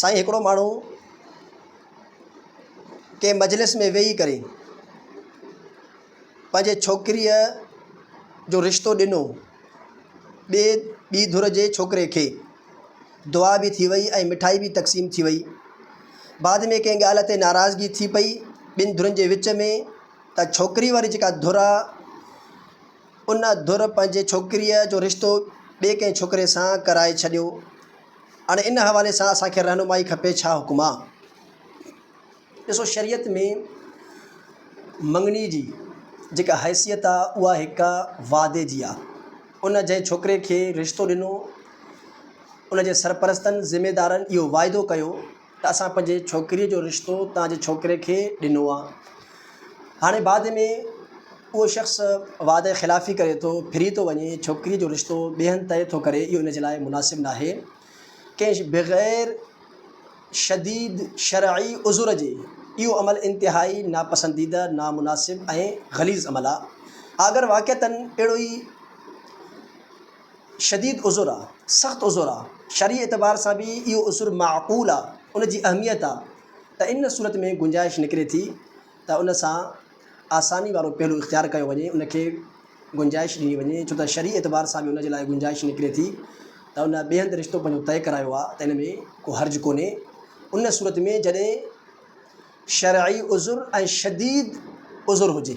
سائين هڪڙو ماڻهو ڪنهن مجلس ۾ ويهي ڪري پنهنجي ڇوڪريء جو رشتو ڏنو ٻي ٻي ڌر جي ڇوڪري کي دعا به ٿي وئي ۽ مٺائي به تقسيم ٿي وئي بعد ۾ ڪنهن ڳالهه تي ناراضگي ٿي پئي ٻن ڌرين جي وچ ۾ ته ڇوڪري واري جيڪا ڌر آهي ان ڌر پنهنجي ڇوڪريء جو رشتو ٻئي ڪنهن ڇوڪري سان ڪرائي ڇڏيو. هاڻي ان حوالي سان اسان کي رهنمائي کپي، ڇا حڪم آ؟ ڏسو شريعت ۾ مڱڻي جي جيڪا حيثيت آ اها هڪ وعدي جي آ. ان جنهن ڇوڪري کي رشتو ڏنو ان جي سرپرستن، ذميدارن، اهو واعدو ڪيو، ته اسان پنهنجي ڇوڪريء جو رشتو توهان جي ڇوڪري کي ڏنو آ. هاڻي بعد ۾ اهو شخص وعدي خلافي ڪري ٿو، ڦري ٿو وڃي، ڇوڪريء جو رشتو ٻئي هنڌ طئي ٿو ڪري، اهو ان جي لاء مناسب ناهي. ڪنهن بغير شديد شرعي عذر جي اهو عمل انتهائي ناپسنديده، نامناسب ۽ غليظ عمل آ. اگر واقعتاً اهڙو ئي. شديد عذر آ، سخت عذر آ، شرعي اعتبار سان به اهو عذر معقول آ، ان جي اهميت آ ته ان صورت ۾ گنجائش نڪري ٿي ته ان سان آساني وارو پهلو اختيار ڪيو وڃي، ان کي گنجائش ڏني وڃي، ڇو ته شرعي اعتبار سان به ان جي لاء گنجائش نڪري ٿي ته ان ٻئي هنڌ رشتو پنهنجو طئي ڪرايو آ ته ان ۾ ڪو حرج ڪونهي، ان صورت ۾ جڏهن شرعي عذر ۽ شديد عذر هجي.